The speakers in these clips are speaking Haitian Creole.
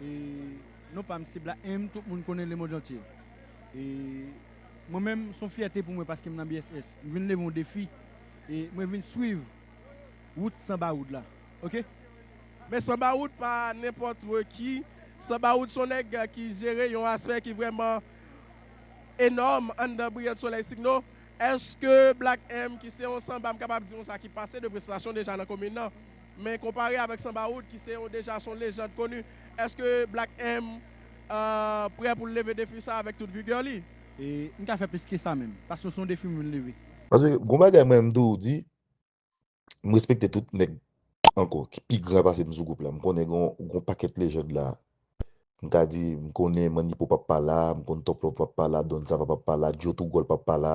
E non pa m se Black-M tout moun konnen lemondantye. E mwen menm s on fyète pou mwen paske m nan BSS. M vin leve yon defi e mwen vin swiv wout san bawoud la. Ok. Men san bawoud pa nenpòt ki. San bawoud s on nèg ki jere yon aspè ki vrèman enòm anndan Briyant Solèy Signo. Èske Black-M ki se yon sanba m kapab di konsa ki pase 2 prestasyon deja nan komin nan. men konpare avèk Sanba Wood ki se yon deja son lejand koni, eske Black M prè pou l leve defi sa avèk tout vigè li? M ka fè plis ke sa menm, paske son defi m vin leve. Paske gon bagay mwen menm tou di, m respekte tout nèg ankò ki pi gran pase m sou gwoup la, m konnen gon pakèt lejand la, m ka di m konnen Mannipo p ap pa la, m konn Top Love p ap pa la, Don Sava p ap pa la, Djo Tougòl p ap pa la,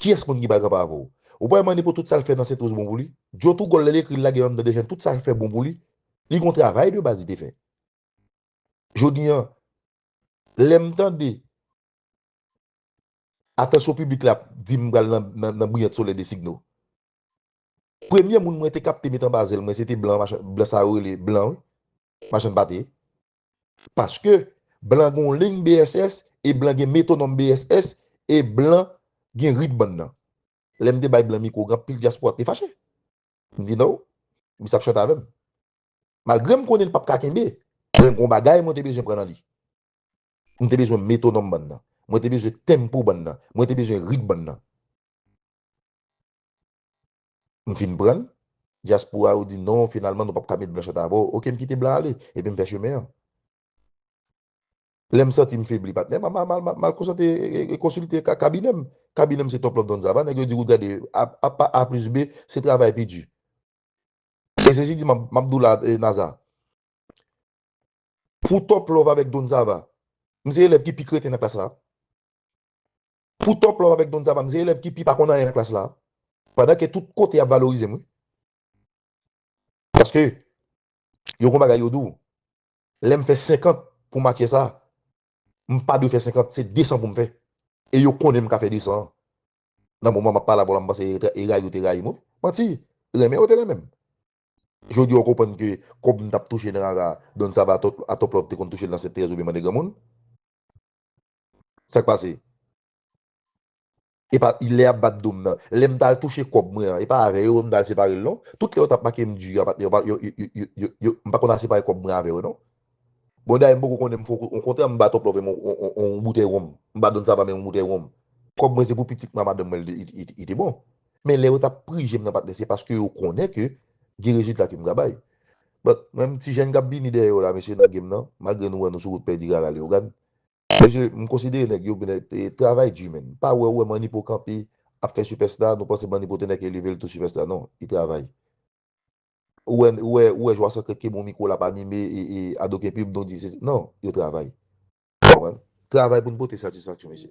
Kiyès moun ki pral kanpe avè w? Ou pa wè Manipo tout sa l fè nan Sentwoz bon pou li? Djo tou gòl lè l ekri l lage andan Dejen tout sa l fè bon pou li. Li gon travay de baz li te fè. Jodi an lè m tande atansyon piblik la ap di m pral nan Briyant Solèy Designo. Premye moun mwen te kapte met anba zèl mwen se te blan sa yo rele blan wi. Machann pate. Paske blan gon lign BSS e blan gen metonòm BSS e blan gen rit bann nan. Lè m te bay blan mikwo gen anpil dyaspora k te fache. M di no, m sa p chante avè m. Malgre m konnen l p ap ka kenbe, men gon bagay mwen te bezwen pran nan li. M te bezwen metonòm bann nan. Mwen te bezwen tempo bann nan. Mwen te bezwen rit bann nan. M fin prann. Dyaspora yo di non finalman nou pap ka met blanchèt avè w ok m kite blan ale epi m fè chemen an. Lè m santi m febli patnè m m al konsante e konsilte kabinè m. Kabinè m se Top Love Don Zava nèg yo di kout gade apa a plis be se travay pi di. E se si di m ap di w la Naza. Pou Top Love avèk Don Zava m se elèv ki pi kreten nan klas la. Pou Top Love avèk Don Zaba m se elèv ki pi pa konn anyen nan klas la. Pandan ke tout kote y ap valorize m wi. Paske yo gon bagay yo di w. Lè m fè 50 pou matyè sa, m pa dwe fè 50, se 200 pou m fè. E yo konnen m ka fè 200 an. Nan moman m ap pale avè w la m panse e rayi yo te rayi m wi. Manti! Renmen yo te renmen m. Jodi a w konprann ke kòb m t ap touche nan rara Don Zaba a Top Love te konn touche l nan Sentèrèz oubyen Mande Granmoun. Sak pase? Epa lè yap bat dom nan. Lèm tal touche kòb mwen an. Epa avè yo m tal separel non. Tout lè yo tap makem di yo patnè yo m pa konn a separe kòb mwen avè yo non. Bon dayè m poko konnen m fou kou. Okontrè m ba Tòplòv m on boutèy wonm. M ba Don Sava menm on boutèy wonm. Kòb mwen se pou pitit mwen a madanm mwen li te bon. Men lè yo tap prijem nan patnè se paske yo konnen ke gen rezilta ke m ka bay. But menm ti jèn kap vini dèyè yo la mesye nan game nan malgre nou wè nou sou wout pèdi Rara Leogane mesye m konsidere nèg yo travay di menn pa wè ou wè Manipo kanpe ap fè sipèsta nou panse Manipo te nèk eleve l tou sipèsta non li travay ou wè ou wè ou wè Jwa Sekrèt ki bon mikwo lap anime e Ado K-pub nou di se non yo travay ou konprann travay pou n pote satisfaksyon mesye.